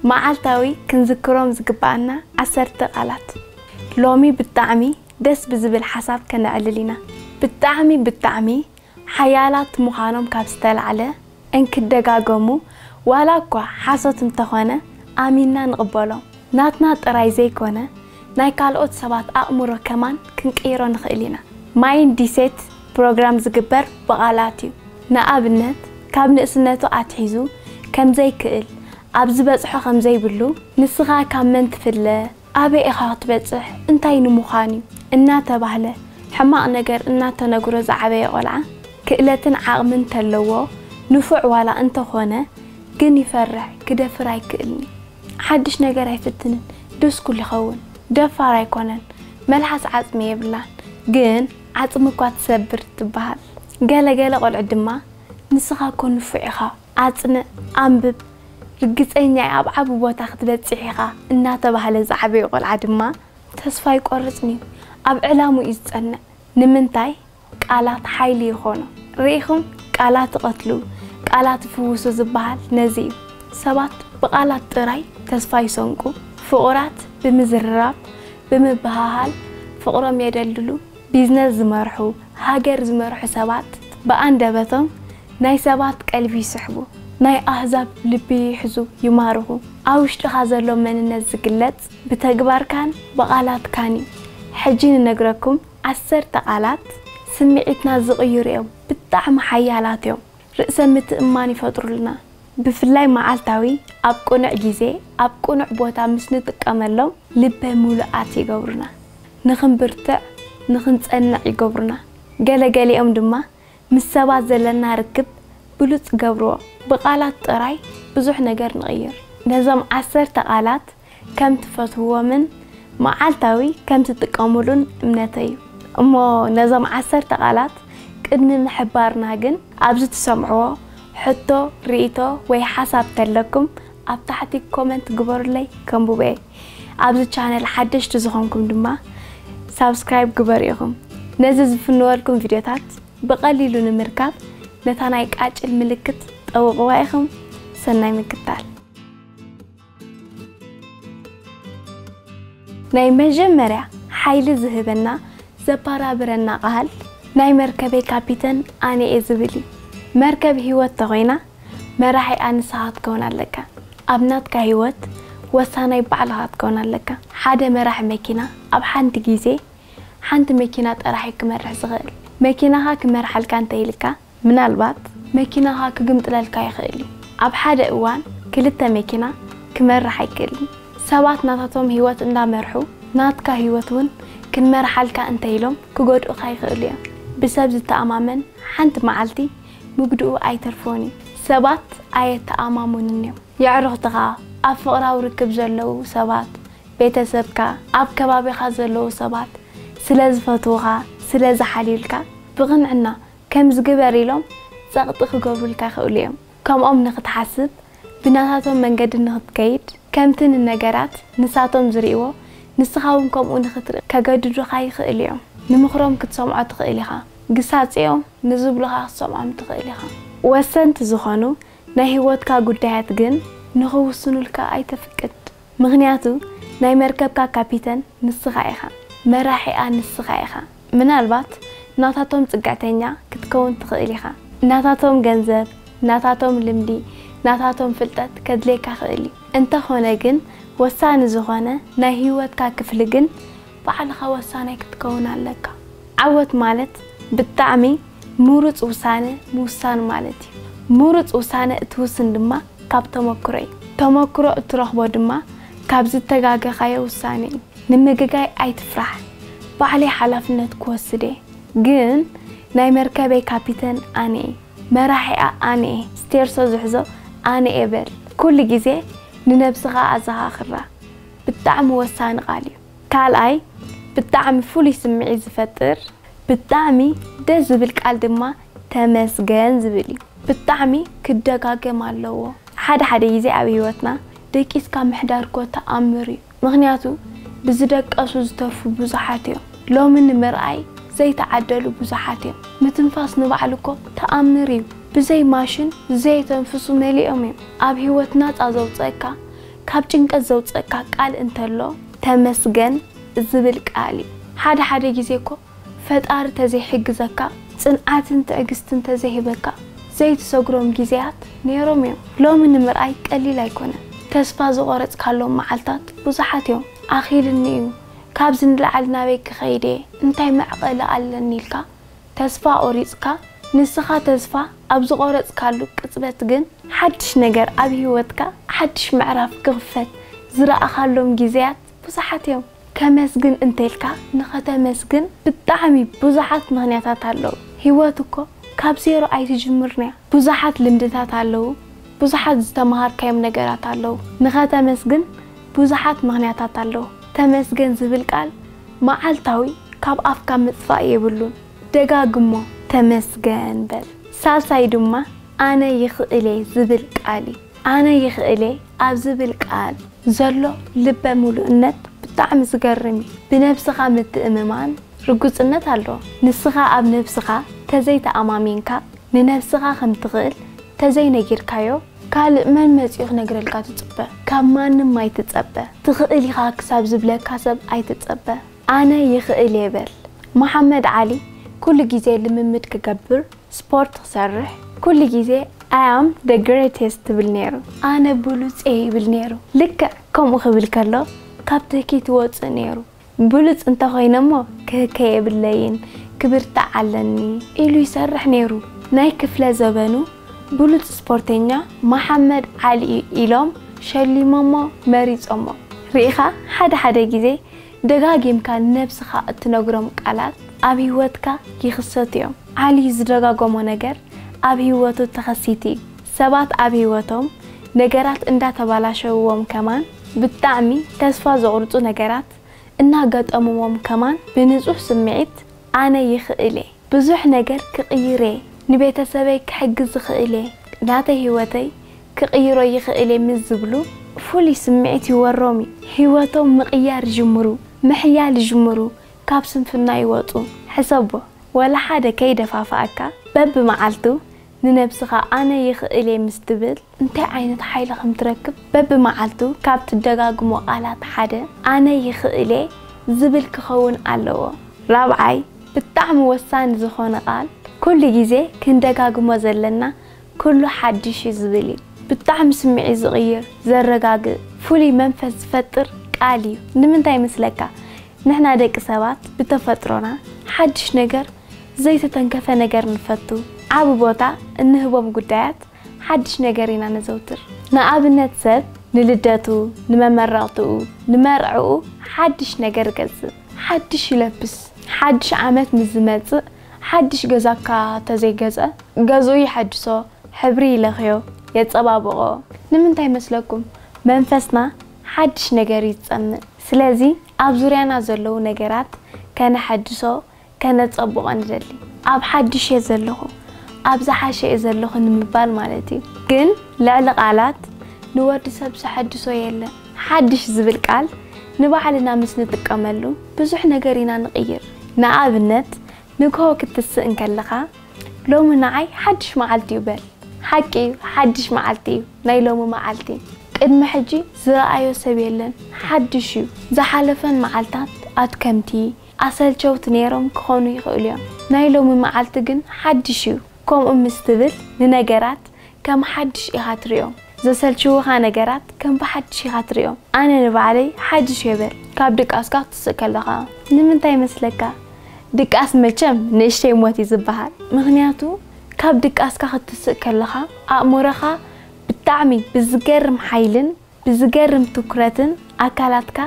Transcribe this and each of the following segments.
መዓልታዊ ክንዝክሮም ዝግበኣና ዓሰርተ ቃላት። ሎሚ ብጣዕሚ ደስ ብዝብል ሓሳብ ከነዕልል ኢና። ብጣዕሚ ብጣዕሚ ሓያላት ምዃኖም ካብ ዝተላዕለ እንክደጋገሙ ዋላ እኳ ሓሶት እንተኾነ ኣሚንና ንቕበሎም። ናትና ጥራይ ዘይኮነ ናይ ካልኦት ሰባት ኣእምሮ ከማን ክንቅይሮ ንኽእል ኢና። ማይንዲሴት ፕሮግራም ዝግበር ብቓላት እዩ። ንኣብነት ካብ ንእስነቱ ኣትሒዙ ከም ዘይክእል፣ ኣብ ዝበጽሖ ከም ዘይብሉ፣ ንስኻ ካብ መን ትፍለ፣ ኣበይ ኢኻ ክትበጽሕ፣ እንታይ ንምዃን እዩ፣ እናተባህለ ሕማቕ ነገር እናተነግሮ ዝዓበየ ቆልዓ ክእለትን ዓቕሚ እንተለዎ ንፉዕ ዋላ እንተኾነ ግን ይፈርሕ ክደፍር ኣይክእልን እዩ። ሓድሽ ነገር ኣይፍትንን ዶስኩል ይኸውን ደፋር ኣይኮነን መልሓስ ዓጽሚ የብላን ግን ዓጽሚ እኳ ትሰብር ትበሃል ገለ ገለ ቆልዑት ድማ ንስኻ እኮ ንፉዕ ኢኻ ኣጽንዕ ኣንብብ ርግጸኛ እየ ኣብ ዓቢ ቦታ ክትበጽሕ ኢኻ እናተባህለ ዝዓበየ ቆልዓ ድማ ተስፋ ኣይቆርጽን'ዩ ኣብ ዕላምኡ እዩ ዝጸንዕ ንምንታይ ቃላት ሓይሊ ይኾኑ። ርኢኹም ቃላት ይቐትሉ፣ ቃላት ይፍውሱ ዝበሃል ነዚ እዩ። ሰባት ብቓላት ጥራይ ተስፋ ይሰንቁ፣ ፍቑራት ብምዝርራብ፣ ብምብህሃል ፍቕሮም የደልድሉ። ቢዝነስ ዝመርሑ፣ ሃገር ዝመርሑ ሰባት ብኣንደበቶም ናይ ሰባት ቀልቢ ይስሕቡ፣ ናይ ኣህዛብ ልቢ ይሕዙ፣ ይማርኹ። ኣብ ውሽጥኻ ዘሎ መንነት ዝግለጽ ብተግባርካን ብቓላትካን እዩ። ሕጂ ንነግረኩም። ዓሰርተ ቃላት ስምዒትና ዝቕይሩ እዮም፣ ብጣዕሚ ሓያላት እዮም፣ ርእሰ ምትእምማን ይፈጥሩልና፣ ብፍላይ መዓልታዊ ኣብ ቅኑዕ ግዜ ኣብ ቅኑዕ ቦታ ምስ ንጥቀመሎም ልበ ምሉኣት ይገብሩና፣ ንኽንብርትዕ ንኽንጸንዕ ይገብሩና፣ ገለ ገሊኦም ድማ ምስ ሰባት ዘለና ርክብ ብሉጽ ይገብርዎ፣ ብቓላት ጥራይ ብዙሕ ነገር ንቕይር፣ ነዞም ዓሰርተ ቃላት ከም ትፈትውዎምን መዓልታዊ ከም ትጥቀሙሉን እምነተይ'ዩ። እሞ ነዞም ዓሰርተ ቃላት ቅድሚ ምሕባርና ግን፣ ኣብዚ ትሰምዕዎ ሕቶ፣ ርኢቶ ወይ ሓሳብ ተለኩም ኣብ ታሕቲ ኮመንት ግበሩለይ ከንብቦ'የ። ኣብዚ ቻነል ሓደሽቲ ዝኾንኩም ድማ ሳብስክራይብ ግበሩ ኢኹም። ነዚ ዝፍንወልኩም ቪድዮታት ብቐሊሉ ንምርካብ ነታ ናይ ቃጭል ምልክት ጠውቕዋ ኢኹም። ሰናይ ምክታል። ናይ መጀመርያ ሓይሊ ዝህበና ዘባራብረና ቃል ናይ መርከበይ ካፒተን ኣነየ ዝብል እዩ መርከብ ሂወት ተኮይና መራሒኣ ንስካ ክትከውን ኣለካ ኣብ ናትካ ሂወት ወሳናይ ባዕልካ ክትከውን ኣለካ ሓደ መራሒ መኪና ኣብ ሓንቲ ግዜ ሓንቲ መኪና ጥራሕ እዩ ክመርሕ ዝክእል መኪናካ ክመርሓልካ እንተይልካ ምናልባት መኪናኻ ክግምጥለልካ ይኽእል እዩ። ኣብ ሓደ እዋን ክልተ መኪና ክመርሕ ኣይክእልን። ሰባት ናታቶም ህይወት እንዳመርሑ ናትካ ህይወት እውን ክንመርሓልካ እንተ ኢሎም ክጎድኡኻ ይኽእሉ እዮም። ብሰብ ዝተኣማመን ሓንቲ መዓልቲ ምጉድኡ ኣይተርፎን እዩ። ሰባት ኣየተኣማምኑን እዮም። የዕሩኽትኻ፣ ኣብ ፍቕራዊ ርክብ ዘለዉ ሰባት፣ ቤተሰብካ፣ ኣብ ከባቢኻ ዘለዉ ሰባት ስለ ዝፈትዉኻ፣ ስለ ዝሓልዩልካ፣ ብቕንዕና ከምዚ ግበር ኢሎም ጸቕጢ ክገብሩልካ ይኽእሉ እዮም። ከምኦም ንኽትሓስብ፣ ብናታቶም መንገዲ ንኽትከይድ፣ ከምቲ ንነገራት ንሳቶም ዝርእይዎ ንስኻ እውን ከምኡ ንኽትርኢ ከገድዱኻ ይኽእሉ እዮም። ንምኽሮም ክትሰምዖ ትኽእል ኢኻ። ግሳጼኦም ንዝብሉኻ ክትሰምዖም ትኽእል ኢኻ። ወሰንቲ ዝኾኑ ናይ ህይወትካ ጉዳያት ግን ንኽውስኑልካ ኣይተፍቅድ። ምኽንያቱ ናይ መርከብካ ካፒተን ንስኻ ኢኻ፣ መራሒኣ ንስኻ ኢኻ። ምናልባት ናታቶም ጽግዕተኛ ክትከውን ትኽእል ኢኻ፣ ናታቶም ገንዘብ፣ ናታቶም ልምዲ፣ ናታቶም ፍልጠት ከድልየካ ክእል እዩ። እንተኾነ ግን ወሳኒ ዝኾነ ናይ ህይወትካ ክፍሊ ግን ባዕልኻ ወሳናይ ክትከውን ኣለካ። ዓወት ማለት ብጣዕሚ ምሩጽ ውሳነ ምውሳን ማለት እዩ። ምሩጽ ውሳነ እትውስን ድማ ካብ ተመክሮ እዩ። ተመክሮ እትረኽቦ ድማ ካብ ዝተጋገኻዮ ውሳነ እዩ። ንምግጋይ ኣይትፍራሕ። ባዕለይ ሓላፍነት ክወስድ እየ። ግን ናይ መርከበይ ካፒተን ኣነ እየ። መራሒኣ ኣነ እየ። ስቴርሶ ዝሕዞ ኣነ እየ በል። ኩሉ ግዜ ንነብስኻ ኣዘኻኽራ። ብጣዕሚ ወሳኒ ቃል እዩ። ካልኣይ ብጣዕሚ ፍሉይ ስምዒት ዝፈጥር ብጣዕሚ ደስ ዝብል ቃል ድማ ተመስገን ዝብል እዩ ብጣዕሚ ክደጋገም ኣለዎ ሓደ ሓደ ግዜ ኣብ ሂወትና ደቂስካ ምሕዳር እኮ ተኣምር እዩ ምክንያቱ ብዝደቀሱ ዝተርፉ ብዙሓት እዮም ሎሚ ንምርኣይ ዘይተዓደሉ ብዙሓት እዮም ምትንፋስ ንባዕሉ እኮ ተኣምር እዩ ብዘይ ማሽን ዘየተንፍሱ መሊኦም እዮም ኣብ ሂወት ናፃ ዘውፀእካ ካብ ጭንቀት ዘውጽእካ ቃል እንተሎ ተመስገን ዝብል ቃል እዩ። ሓደ ሓደ ግዜ እኮ ፈጣሪ ተዘይሕግዘካ ጽንዓትን ትዕግስትን ተዘይህበካ ዘይትሰግሮም ግዜያት ኔሮም እዮም። ሎሚ ንምርኣይ ቀሊል ኣይኮነን ተስፋ ዝቖረጽካሎም መዓልታት ብዙሓት እዮም። ኣኺሉኒ እዩ፣ ካብዚ ንላዕሊ ናበይ ክኸይድ እየ፣ እንታይ መዕቐሊ ኣለኒ ኢልካ ተስፋ ቖሪጽካ፣ ንስኻ ተስፋ ኣብ ዝቖረጽካሉ ቅጽበት ግን፣ ሓድሽ ነገር ኣብ ህይወትካ ሓድሽ ምዕራፍ ክኽፈት ዝረኣኻሎም ግዜያት ብዙሓት እዮም። ከመስግን እንተልካ ንኸተመስግን ብጣዕሚ ብዙሓት ምኽንያታት ኣለዉ። ህይወት እኮ ካብ ዜሮ ኣይትጅምርን'ያ። ብዙሓት ልምድታት ኣለዉ፣ ብዙሓት ዝተመሃርካዮም ነገራት ኣለዉ። ንኸተመስግን ብዙሓት ምኽንያታት ኣለዉ። ተመስገን ዝብል ቃል መዓልታዊ ካብ ኣፍካ ምጥፋእ የብሉን። ደጋግሞ፣ ተመስገን በል። ሳልሳይ ድማ ኣነ ይኽእል'የ ዝብል ቃል እዩ። ኣነ ይኽእል'የ ኣብ ዝብል ቃል ዘሎ ልበ ምሉእነት ብጣዕሚ ዝገርም እዩ። ብነብስኻ ምትእምማን ርግጽነት ኣሎ። ንስኻ ኣብ ነብስኻ ተዘይተኣማሚንካ፣ ንነብስኻ ከም ትኽእል ተዘይነጊርካዮ ካልእ መን መጺኡ ክነግረልካ ትጽበ? ካብ ማንም ኣይትጸበ። ትኽእል ኢኻ ክሳብ ዝብለካ ሰብ ኣይትጸበ። ኣነ ይኽእል እየ በል። መሓመድ ዓሊ ኩሉ ግዜ ልምምድ ክገብር፣ ስፖርት ክሰርሕ፣ ኩሉ ግዜ I am the greatest ትብል ነይሩ። ኣነ ብሉጽ እየ ይብል ነይሩ። ልክዕ ከምኡ ክብል ከሎ ካብ ትህኪት ይወጽእ ነይሩ። ብሉጽ እንተ ኮይነ'ሞ ክህከ የብለይን ክብርታዕ ኣለኒ ኢሉ ይሰርሕ ነይሩ። ናይ ክፍለ ዘበኑ ብሉጽ ስፖርተኛ መሓመድ ዓሊ'ዩ ኢሎም ሸሊሞሞ መሪጾሞ። ርኢኻ ሓደ ሓደ ግዜ ደጋጊምካ ንነብስኻ እትነግሮም ቃላት ኣብ ሂወትካ ይኽሰቱ'ዮም። ዓሊ ዝደጋጎሞ ነገር ኣብ ሂወቱ ተኸሲቲ'ዩ። ሰባት ኣብ ሂወቶም ነገራት እንዳተባላሸውዎም ከማን ብጣዕሚ ተስፋ ዘቑርጹ ነገራት እናገጠምዎም ከማን ብንጹህ ስምዒት ኣነ ይኽእል እየ ብዙሕ ነገር ክቕይር እየ ንቤተሰበይ ክሕግዝ ዝኽእል እየ ናተይ ህይወተይ ክቕይሮ ይኽእል እየ ምስ ዝብሉ ፍሉይ ስምዒት ይወሮም እዩ ህይወቶም ምቕያር ይጅምሩ ምሕያል ይጅምሩ ካብ ስንፍና ይወጹ ሕሰቦ ወላ ሓደ ከይደፋፍኣካ በብመዓልቱ ንነብስኻ ኣነ ይኽእል'የ ምስ ትብል እንታይ ዓይነት ሓይሊ ከም ትረክብ በብመዓልቱ ካብ ትደጋግሞ ቃላት ሓደ ኣነ ይኽእል'የ ዝብል ክኸውን ኣለዎ። ራብዓይ ብጣዕሚ ወሳኒ ዝኾነ ቃል ኩሉ ግዜ ክንደጋግሞ ዘለና ኩሉ ሓድሽ'ዩ ዝብል እዩ። ብጣዕሚ ስምዒት ዝቕይር፣ ዘረጋግእ፣ ፍሉይ መንፈስ ዝፈጥር ቃል እዩ። ንምንታይ መስለካ? ንሕና ደቂ ሰባት ብተፈጥሮና ሓድሽ ነገር ዘይተተንከፈ ነገር ንፈቱ። ዓቢ ቦታ እንህቦም ጉዳያት ሓድሽ ነገር ኢና ነዘውትር። ንኣብነት ሰብ ንልደቱ፣ ንመመረቕትኡ፣ ንመርዕኡ ሓድሽ ነገር እገዝእ። ሓድሽ ይለብስ። ሓድሽ ዓመት ምስ ዝመጽእ ሓድሽ ገዛ እካ ተዘይገዝኣ ገዝኡ የሐድሶ፣ ሕብሪ ይለኽዮ፣ የጸባብቖ። ንምንታይ መስለኩም? መንፈስና ሓድሽ ነገር እዩ ዝጸምእ። ስለዚ ኣብ ዙርያና ዘለዉ ነገራት ከነሐድሶ፣ ከነጸብቆ ንደሊ ኣብ ሓድሽ እየ ዘለኹ ኣብ ዝሓሸ እየ ዘለኹ ንምባል ማለት እዩ። ግን ልዕሊ ቃላት ንወዲ ሰብ ዘሐድሶ የለን። ሓድሽ ዝብል ቃል ንባዕልና ምስ ንጥቀመሉ ብዙሕ ነገር ኢና ንቕይር። ንኣብነት ንግሆ ክትስእ እንከለኻ ሎሚ ንዓይ ሓድሽ መዓልቲ እዩ በል። ሓቂ እዩ ሓድሽ መዓልቲ እዩ ናይ ሎሚ መዓልቲ። ቅድሚ ሕጂ ዝረኣዮ ሰብ የለን ሓድሽ እዩ። ዝሓለፈን መዓልታት ኣድከምቲ፣ ኣሰልቸውቲ ነይሮም ክኾኑ ይኽእሉ እዮም፣ ናይ ሎሚ መዓልቲ ግን ሓድሽ እዩ ከምኡ ምስ ትብል ንነገራት ከም ሓድሽ ኢኻ ትሪኦም፣ ዘሰልችዉኻ ነገራት ከም ብሓድሽ ኢኻ ትሪኦም፣ ኣነ ንባዕለይ ሓድሽ እየ በል። ካብ ድቃስካ ክትስእ ከለኻ ንምንታይ ይመስለካ? ድቃስ መቸም ንእሽተይ ሞት እዩ ዝበሃል፣ ምኽንያቱ ካብ ድቃስካ ክትስእ ከለኻ ኣእምሮኻ ብጣዕሚ ብዝገርም ሓይልን ብዝገርም ትኩረትን ኣካላትካ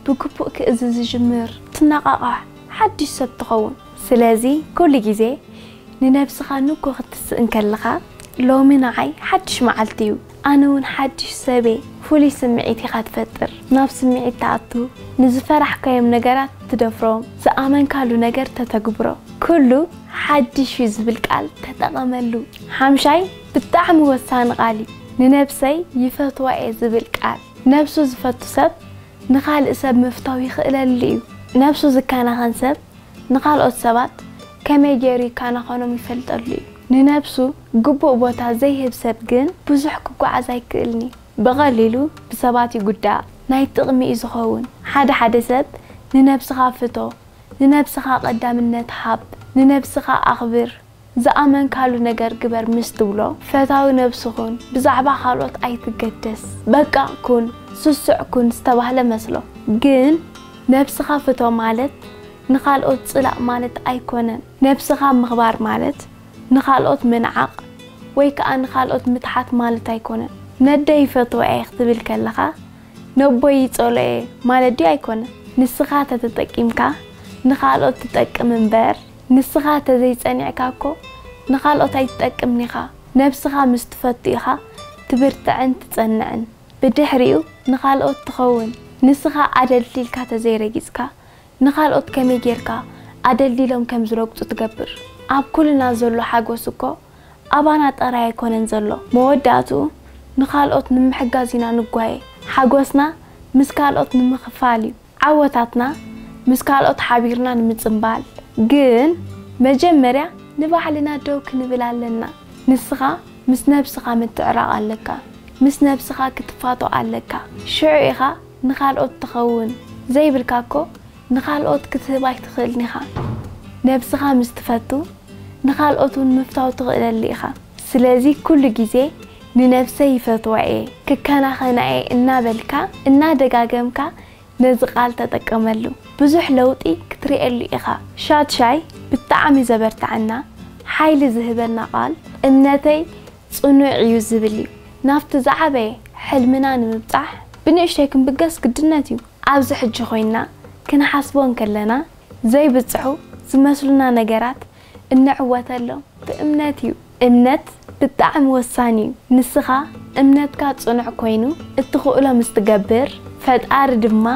ብግቡእ ክእዝ ዝጅምር ትነቓቓሕ ሓድሽ ሰብ ትኸውን። ስለዚ ኩሉ ግዜ ንነብስኻ ንግሆ ክትስእ እንከለኻ ሎሚ ንዓይ ሓድሽ መዓልቲ እዩ፣ ኣነ እውን ሓድሽ ሰብ እየ ፍሉይ ስምዒት ኢኻ ትፈጥር። ናብ ስምዒት ትኣቱ፣ ንዝፈራሕካዮም ነገራት ትደፍሮም፣ ዝኣመንካሉ ነገር ተተግብሮ። ኩሉ ሓድሽ እዩ ዝብል ቃል ተጠቐመሉ። ሓምሻይ፣ ብጣዕሚ ወሳኒ ቃል እዩ ንነብሰይ ይፈትዋ እየ ዝብል ቃል ነብሱ ዝፈቱ ሰብ ንኻልእ ሰብ ምፍታው ይኽእለሉ እዩ ነብሱ ዝከናኸን ሰብ ንኻልኦት ሰባት ከመይ ገይሩ ይከናኸኖም ይፈልጠሉ እዩ ንነብሱ ግቡእ ቦታ ዘይህብ ሰብ ግን ብዙሕ ክጎዓዝ ኣይክእልን እዩ ብቐሊሉ ብሰባት ይጉዳእ ናይ ጥቕሚ እዩ ዝኸውን ሓደ ሓደ ሰብ ንነብስኻ ፍቶ ንነብስኻ ቐዳምነት ሃብ ንነብስኻ ኣኽብር ዝኣመንካሉ ነገር ግበር ምስ ትብሎ ፈታዊ ነብሱ ኩን ብዛዕባ ካልኦት ኣይትገደስ በቃ ኩን ስሱዕ ኩን ዝተባህለ መስሎ ግን ነብስኻ ፍቶ ማለት ንኻልኦት ጽላእ ማለት ኣይኮነን ነብስኻ ምኽባር ማለት ንኻልኦት ምንዓቕ ወይ ከኣ ንኻልኦት ምትሓት ማለት ኣይኮነን ነደይ ይፈትዋ'የ ክትብል ከለኻ ነቦይ ይጸልኦ'የ ማለት ድዩ ኣይኮነን ንስኻ ተተጠቂምካ ንኻልኦት ትጠቅም እምበር ንስኻ ተዘይ ጸኒዕካ እኮ ንኻልኦት ኣይትጠቅምን ኢኻ ነብስኻ ምስ ትፈቱ ኢኻ ትብርትዕን ትጸንዕን ብድሕሪኡ ንኻልኦት ትኸውን ንስኻ ኣደልዲልካ ተዘይ ረጊጽካ ንኻልኦት ከመይ ጌርካ ኣደልዲሎም ከም ዝረግጹ ትገብር ኣብ ኩልና ዘሎ ሓጎስ እኮ ኣባና ጥራይ ኣይኮነን ዘሎ መወዳእትኡ ንኻልኦት ንምሕጋዝ ኢና ንጓየ ሓጎስና ምስ ካልኦት ንምክፋል እዩ። ዓወታትና ምስ ካልኦት ሓቢርና ንምጽንባል ግን መጀመርያ ንባዕልና ደው ክንብል ኣለና። ንስኻ ምስ ነብስኻ ምትዕራቕ ኣለካ። ምስ ነብስኻ ክትፋቶ ኣለካ። ሽዑ ኢኻ ንኻልኦት ትኸውን። ዘይብልካ እኮ ንኻልኦት ክትህብ ኣይትኽእልን ኢኻ። ነብስኻ ምስ ትፈቱ ንኻልኦት ውን ምፍታው ትኽእለሉ ኢኻ። ስለዚ ኩሉ ግዜ ንነብሰይ ይፈትዋ'የ፣ ክከናኸና'የ እናበልካ እናደጋገምካ ነዚ ቃል ተጠቀመሉ። ብዙሕ ለውጢ ክትርእየሉ ኢኻ። ሻድሻይ ብጣዕሚ ዘበርትዐና፣ ሓይሊ ዝህበና ቃል፣ እምነተይ ጽኑዕ'ዩ ዝብል'ዩ። ናብቲ ዝዓበየ ሕልምና ንምብጻሕ ብንእሽተይ ክንብገስ ግድነት'ዩ። ኣብዚ ሕጂ ኮይንና ክንሓስቦ እንከለና ዘይብጽሑ ዝመስሉና ነገራት እንዕወተሎም ብእምነት'ዩ። እምነት ብጣዕሚ ወሳኒ እዩ ንስኻ እምነትካ ፅኑዕ ኮይኑ እትኽእሎ ምስ ትገብር ፈጣሪ ድማ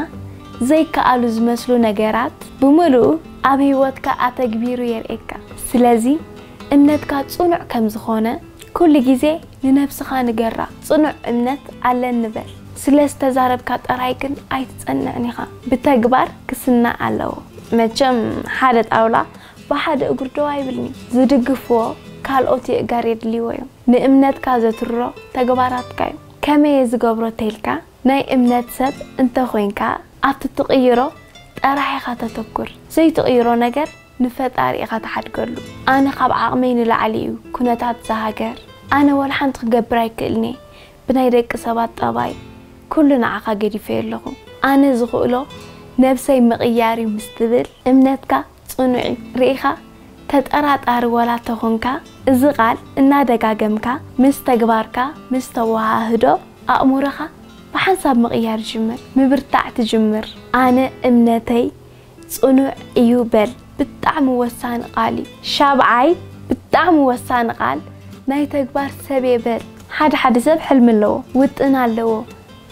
ዘይከኣሉ ዝመስሉ ነገራት ብምልኡ ኣብ ህይወትካ ኣተግቢሩ የርእየካ ስለዚ እምነትካ ፅኑዕ ከም ዝኾነ ኩሉ ግዜ ንነብስኻ ንገራ ፅኑዕ እምነት ኣለኒ በል ስለ ዝተዛረብካ ጥራይ ግን ኣይትፀንዕን ኢኻ ብተግባር ክስናዕ ኣለዎ መቸም ሓደ ጣውላ ብሓደ እግሩ ደው ኣይብልን'ዩ። ዝድግፍዎ ካልኦት የእጋር የድልይዎ'ዮም። ንእምነትካ ዘትርሮ ተግባራትካ'ዩ። ከመይ'የ ዝገብሮ ተይልካ፣ ናይ እምነት ሰብ እንተ ኾይንካ ኣብቲ ትቕይሮ ጠራሕ ኢኻ ተተኩር። ዘይትቕይሮ ነገር ንፈጣሪ ኢኻ ትሓድገሉ። ኣነ ካብ ዓቕመይ ንላዕሊ'ዩ ኩነታት እዛ ሃገር። ኣነ ወላሓንቲ ክገብር ኣይክእልን'የ። ብናይ ደቂ ሰባት ጠባይ ኩሉ ንዓኻ ገዲፈዮ ኣለኹ። ኣነ ዝኽእሎ ነብሰይ ምቕያር'ዩ ምስ ትብል እምነትካ ጽኑዕ'ዩ ርኢኻ ተጠራጣሪ ዋላ ተኾንካ እዚ ቃል እናደጋገምካ ምስ ተግባርካ ምስ ተወሃህዶ ኣእሙሮኻ ብሓንሳብ ምቕያር ይጅምር ምብርታዕ ትጅምር ኣነ እምነተይ ጽኑዕ እዩ በል ብጣዕሚ ወሳኒ ቃል እዩ ሻብዓይ ብጣዕሚ ወሳኒ ቃል ናይ ተግባር ሰብየ በል ሓደ ሓደ ሰብ ሕልሚ ኣለዎ ውጥን ኣለዎ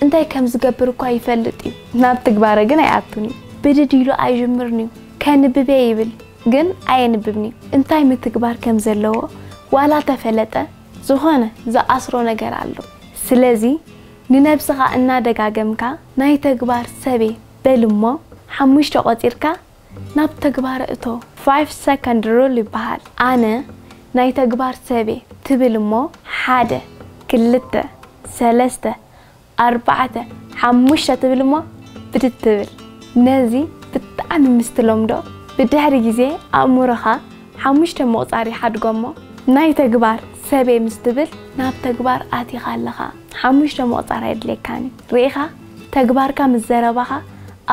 እንታይ ከም ዝገብር እኳ ይፈልጥ እዩ፣ ናብ ትግባረ ግን ኣይኣቱን እዩ። ብድድ ኢሉ ኣይጅምርን እዩ፣ ከንብብ እየ ይብል ግን ኣየንብብን እዩ። እንታይ ምትግባር ከም ዘለዎ ዋላ ተፈለጠ ዝኾነ ዝኣስሮ ነገር ኣሎ። ስለዚ ንነብስኻ እናደጋገምካ ናይ ተግባር ሰብየ በል እሞ ሓሙሽተ ቆጺርካ ናብ ተግባር እቶ። Five Second Rule ይበሃል። ኣነ ናይ ተግባር ሰብ'የ ትብል እሞ ሓደ፣ ክልተ፣ ሰለስተ፣ ኣርባዕተ፣ ሓሙሽተ ትብል እሞ ብድድ ትብል። ነዚ ብጣዕሚ ምስ ትለምዶ ብድሕሪ ግዜ ኣእምሮኻ ሓሙሽተ ምቑጻር ይሓድጎ እሞ ናይ ተግባር ሰብ'የ ምስ ትብል ናብ ተግባር ኣቲኻ ኣለኻ። ሓሙሽተ ምቑጻር ኣየድልየካን እዩ። ርኢኻ? ተግባርካ ምስ ዘረባኻ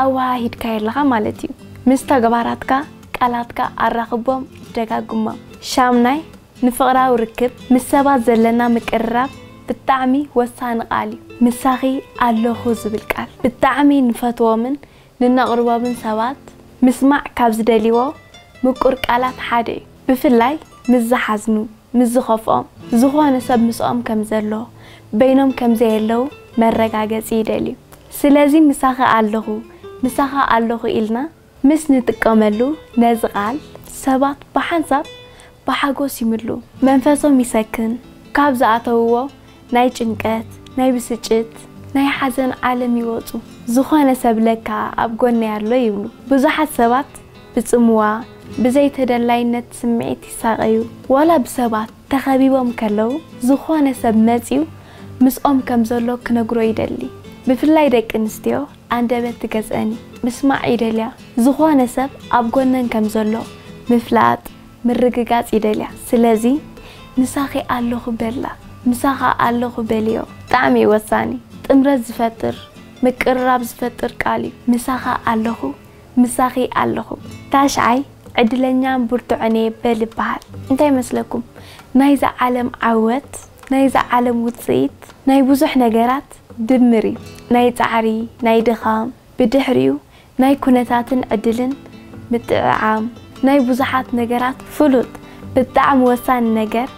ኣወሃሂድካዮ ኣለኻ ማለት እዩ። ምስ ተግባራትካ ቃላትካ ኣራኽቦም፣ ደጋግሞም። ሻምናይ፣ ንፍቕራዊ ርክብ ምስ ሰባት ዘለና ምቅርራብ ብጣዕሚ ወሳኒ ቃል እዩ። ምሳኺ ኣለኹ ዝብል ቃል ብጣዕሚ ንፈትዎምን ንነቕርቦብን ሰባት ምስማዕ ካብ ዝደልይዎ ምቁር ቃላት ሓደ እዩ። ብፍላይ ምስ ዝሓዝኑ፣ ምስ ዝኸፍኦም፣ ዝኾነ ሰብ ምስኦም ከም ዘሎ፣ በይኖም ከም ዘየለዉ መረጋገጺ ይደልዩ። ስለዚ ምሳኺ ኣለኹ፣ ምሳኻ ኣለኹ ኢልና ምስ ንጥቀመሉ ነዚ ቃል ሰባት ብሓንሳብ ብሓጎስ ይምልኡ። መንፈሶም ይሰክን፣ ካብ ዝኣተውዎ ናይ ጭንቀት ናይ ብስጭት ናይ ሓዘን ዓለም ይወጹ ዝኾነ ሰብ ለካ ኣብ ጎነይ ኣሎ ይብሉ ብዙሓት ሰባት ብጽምዋ ብዘይ ተደላይነት ስምዒት ይሳቀዩ ዋላ ብሰባት ተኸቢቦም ከለዉ ዝኾነ ሰብ መጽዩ ምስኦም ከም ዘሎ ክነግሮ ይደሊ ብፍላይ ደቂ ኣንስትዮ ኣንደበት ትገዝኣን እዩ ምስማዕ ይደልያ ዝኾነ ሰብ ኣብ ጎነን ከም ዘሎ ምፍላጥ ምርግጋጽ ይደልያ ስለዚ ምሳኺ ኣለኹ በላ ምሳኻ ኣለኹ በልዮ ብጣዕሚ እዩ ወሳኒ ጥምረት ዝፈጥር ምቅርራብ ዝፈጥር ቃል እዩ ምሳኻ ኣለኹ ምሳኺ ኣለኹ ታሽዓይ ዕድለኛን ብርቱዕን እየ በል ይበሃል እንታይ መስለኩም ናይዛ ዓለም ዓወት ናይዛ ዓለም ውጽኢት ናይ ብዙሕ ነገራት ድምር እዩ ናይ ጻዕሪ ናይ ድኻም ብድሕሪኡ ናይ ኩነታትን ዕድልን ምጥዕዓም ናይ ብዙሓት ነገራት ፍሉጥ ብጣዕሚ ወሳኒ ነገር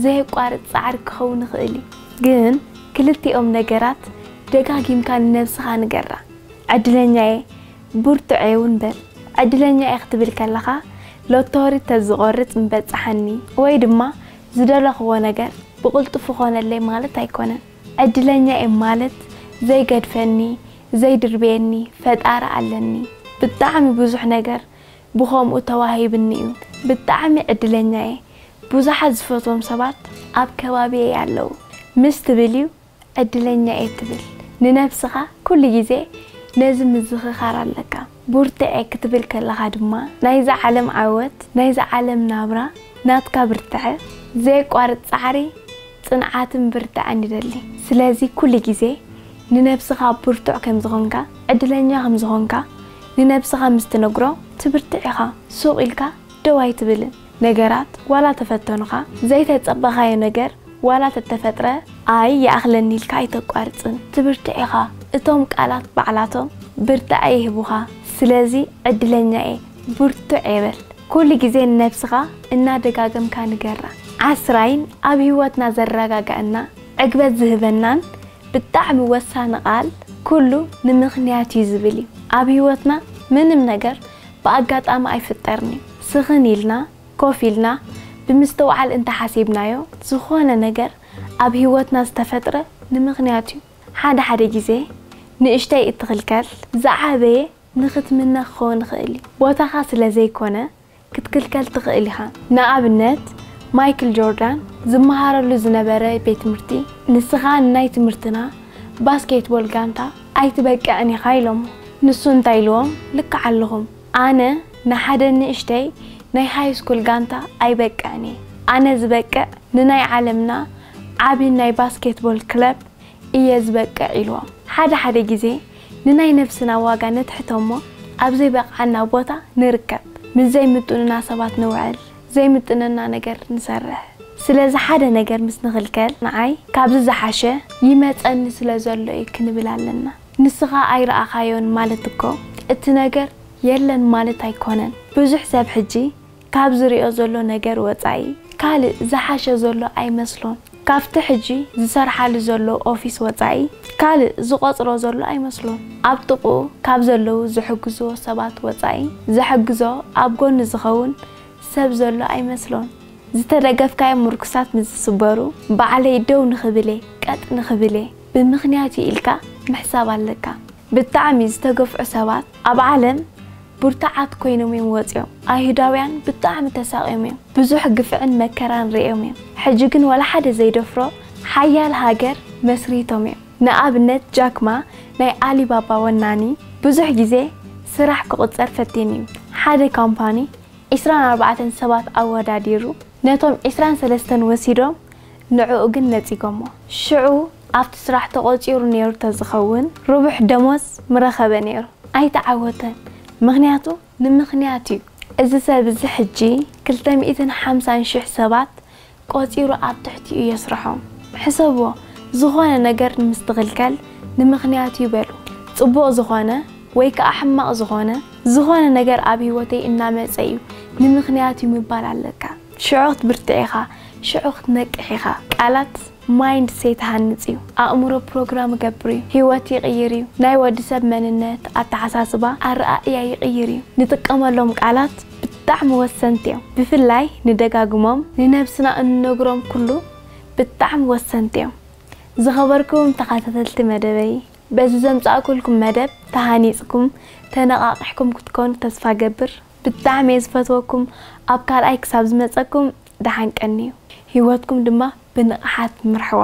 ዘየቋርጽ ጻዕሪ ክኸውን ይኽእል እዩ ግን ክልቲኦም ነገራት ደጋጊምካ ንነብስኻ ንገራ ዕድለኛ እየ ብርቱዕ እየ ውን በል ዕድለኛ እየ ክትብል ከለኻ ሎቶሪ ተዝቖርጽ ምበጸሓኒ ወይ ድማ ዝደለኽዎ ነገር ብቕልጡፍ ኾነለይ ማለት ኣይኮነን ዕድለኛ እየ ማለት ዘይገድፈኒ ዘይድርብየኒ ፈጣሪ ኣለኒ ብጣዕሚ ብዙሕ ነገር ብኸምኡ ተዋሂብኒ እዩ ብጣዕሚ ዕድለኛ እየ ብዙሓት ዝፈትዎም ሰባት ኣብ ከባቢየይ ኣለዉ ምስ ትብል እዩ ዕድለኛ እየ ትብል ንነብስኻ ኩሉ ግዜ ነዚ ምዝኽኻር ኣለካ። ቡርትዔ ክትብል ከለኻ ድማ ናይዛ ዓለም ዓወት፣ ናይዛ ዓለም ናብራ፣ ናትካ ብርትዐ፣ ዘየቋርጽ ጻዕሪ፣ ጽንዓትን ብርትዐን ይደሊ። ስለዚ ኩሉ ግዜ ንነብስኻ ብርቱዕ ከም ዝኾንካ፣ ዕድለኛ ከም ዝኾንካ ንነብስኻ ምስ ትነግሮ ትብርትዕ ኢኻ፣ ሱቕ ኢልካ ደው ኣይትብልን። ነገራት ዋላ ተፈተኑኻ፣ ዘይተጸበኻዮ ነገር ዋላ ተተፈጥረ ኣይ ይኣኽለኒ ኢልካ ኣይተቋርጽን። ትብርትዕ ኢኻ። እቶም ቃላት ባዕላቶም ብርታዐ ይህቡኻ። ስለዚ ዕድለኛ እየ፣ ብርቱዕ እየ በል። ኩሉ ግዜ ንነብስኻ እናደጋገምካ ንገራ። ዓስራይን ኣብ ህይወትና ዘረጋግኣና፣ ዕግበት ዝህበናን ብጣዕሚ ወሳኒ ቃል ኩሉ ንምኽንያት እዩ ዝብል እዩ። ኣብ ህይወትና ምንም ነገር ብኣጋጣሚ ኣይፍጠርን'ዩ። ስኽን ኢልና፣ ኮፍ ኢልና፣ ብምስትውዓል እንተ ሓሲብናዮ፣ ዝኾነ ነገር ኣብ ህይወትና ዝተፈጥረ ንምኽንያት'ዩ። ሓደ ሓደ ግዜ ንእሽተይ እትኽልከል፣ ዝዓበየ ንኽትምነ ክኸውን ይኽእል'ዩ። ቦታኻ ስለ ዘይኮነ ክትክልከል ትኽእል ኢኻ። ንኣብነት ማይክል ጆርዳን ዝመሃረሉ ዝነበረ ቤት ትምህርቲ፣ ንስኻ ንናይ ትምህርትና ባስኬትቦል ጋንታ፣ ኣይትበቅዕን ኢኻ ኢሎሞ ንሱ እንታይ ኢልዎም ልክዕ ኣለኹም ኣነ ንሓደ ንእሽተይ ናይ ሃይስኩል ጋንታ ኣይበቅዕን እየ ኣነ ዝበቅዕ ንናይ ዓለምና ዓቢ ናይ ባስኬትቦል ክለብ እየ ዝበቅዕ ኢልዎም ሓደ ሓደ ግዜ ንናይ ነብስና ዋጋ ነትሕቶሞ ኣብዘይበቅዓና ቦታ ንርከብ ምስ ዘይምጡኑና ሰባት ንውዕል ዘይምጥነና ነገር ንሰርሕ ስለዚ ሓደ ነገር ምስ ንኽልከል ንዓይ ካብዚ ዝሓሸ ይመጸኒ ስለ ዘሎ እዩ ክንብል ኣለና ንስኻ ኣይረኣኻዮን ማለት እኮ እቲ ነገር የለን ማለት ኣይኮነን ብዙሕ ሰብ ሕጂ ካብ ዝሪኦ ዘሎ ነገር ወጻኢ ካልእ ዝሓሸ ዘሎ ኣይመስሎን ካብቲ ሕጂ ዝሰርሓሉ ዘሎ ኦፊስ ወጻኢ ካልእ ዝቖጽሮ ዘሎ ኣይመስሎን። ኣብ ጥቕኡ ካብ ዘለዉ ዝሕግዝዎ ሰባት ወጻኢ ዘሕግዞ ኣብ ጎኑ ዝኸውን ሰብ ዘሎ ኣይመስሎን። ዝተደገፍካዮም ምርኩሳት ንዝስበሩ ባዕለይ ደው ንኽብል'የ ቀጥ ንኽብል'የ ብምኽንያት'ዩ ኢልካ ምሕሳብ ኣለካ። ብጣዕሚ ዝተገፍዑ ሰባት ኣብ ዓለም ብርቱዓት ኰይኖም እዮም ወጺኦም። ኣይሁዳውያን ብጣዕሚ ተሳቕዮም እዮም። ብዙሕ ግፍዕን መከራን ርእዮም እዮም። ሕጂ ግን ዋላ ሓደ ዘይደፍሮ ሓያል ሃገር መስሪቶም እዮም። ንኣብነት ጃክ ማ ናይ ኣሊባባ ወናኒ ብዙሕ ግዜ ስራሕ ክቑጸር ፈቲኑ እዩ። ሓደ ካምፓኒ ዕስራን ኣርባዕተን ሰባት ኣወዳዲሩ ነቶም ዕስራን ሰለስተን ወሲዶም ንዕኡ ግን ነጺጎሞ። ሽዑ ኣብቲ ስራሕ ተቖጺሩ ነይሩ ተዝኸውን ርቡሕ ደሞዝ ምረኸበ ነይሩ። ኣይተዓወተን ምኽንያቱ ንምኽንያት እዩ። እዚ ሰብ እዚ ሕጂ ክልተ ሚእትን ሓምሳን ሽሕ ሰባት ቆጺሩ ኣብ ትሕቲኡ የስርሖም። ሕሰብዎ ዝኾነ ነገር ምስ ትኽልከል ንምኽንያት እዩ በሉ። ጽቡቕ ዝኾነ ወይ ከኣ ሕማቕ ዝኾነ ዝኾነ ነገር ኣብ ህይወተይ እናመጸ እዩ ንምኽንያት እዩ ምባል ኣለካ። ሽዑ ክትብርትዕ ኢኻ ሽዑ ክትነቅሕ ኢኻ ቃላት ማይንድ ሴት ይሃንጽ እዩ ኣእምሮ ፕሮግራም እገብር እዩ ሂወት ይቅይር እዩ ናይ ወዲ ሰብ መንነት ኣተሓሳስባ ኣረኣእያ ይቅይር እዩ ንጥቀመሎም ቃላት ብጣዕሚ ወሰንቲ እዮም ብፍላይ ንደጋግሞም ንነብስና እንነግሮም ኩሉ ብጣዕሚ ወሰንቲ እዮም ዝኸበርኩም ተኻታተልቲ መደበይ በዚ ዘምጻእኩልኩም መደብ ተሃኒጽኩም ተነቃቂሕኩም ክትኮኑ ተስፋ እገብር። ብጣዕሚ እየ ዝፈትወኩም ኣብ ካልኣይ ክሳብ ዝመፀኩም ደሓን ቀንዩ ሂወትኩም ድማ ብንቕሓት ምርሕዋ።